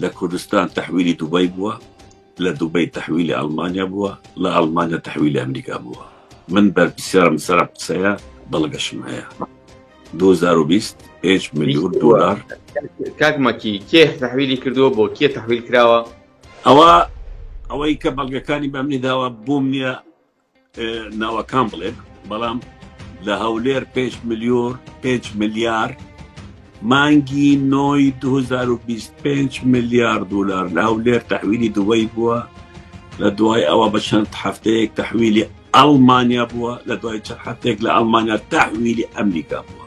لە کوردستان تەحویلی دوبەی بووە لە دوبەی تەحویلی ئەڵمانیا بووە لە ئەڵمانیا تەحویلی ئەمریکا بووە من بەرپسیارم سەر قسەیە بەڵگەشم هەیە 2020 5 ملیون دلار کاکمەکی کێ تحویلی کردووە بۆ کێ تحویل کراوە ئەوە ئەوەی کە بەڵگەکانی بەمنی داوە بووم نییە ناوەکان بڵێ بەڵام لە هەولێر پێنج ملیۆر پێنج ملیار مانگی نۆی 2025 ملیار دلار لە هەولێر تەحویلی دوبەی بووە لە دوای ئەوە بە چەند هەفتەیەک تەحویلی ئەڵمانیا بووە لە دوای چەند هەفتێک لە ئەڵمانیا تەحویلی ئەمریکا بووە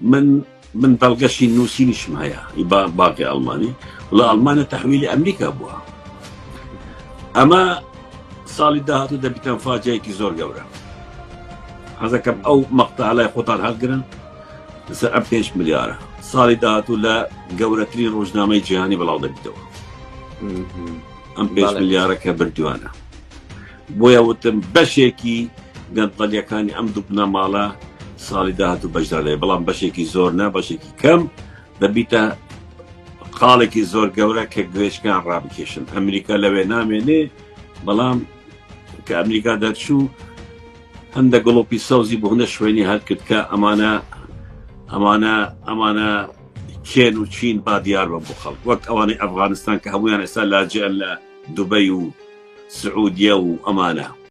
من من بەڵگەشی نووسینیشم هەیە ئی با- باقی ئەڵمانی وڵا ئەڵمانە تەحویلی ئەمریکا بووە ئەمە ساڵی داهاتوو دەبیتان فاجەیەکی زۆر گەورە حەزەکەم ئەو مەقتا لای خۆتان هەڵگرن لەسەر ئەم پێنج ملیارە ساڵی داهاتوو لە گەورەترین ڕۆژنامەی جیهانی بڵاو دەبیتەوە ئەم پێنج بەڵێ. ملیارە کە بردووانە بۆیە وتم بەشێکی گەندەڵیەکانی ئەم دوو بنەماڵە ساڵی داهاتوو بەشدار دەبێت بەڵام بەشێکی زۆر نا بەشێکی کەم دەبیتە خاڵێکی زۆر گەورە کە گوێشکان ڕابکێشن ئەمریکا لەوێ نامێنێ بەڵام کە ئەمریکا دەرچوو هەندە گڵۆپی سەوزی بۆ هەندە شوێنی هەر کرد کە ئەمانە ئەمانە ئەمانە کێن و چین با دیار بن بۆ خەڵک وەک ئەوانەی ئەفغانستان کە هەموویان ئێستا لاجئن لە دوبەی و سعودیە و ئەمانە.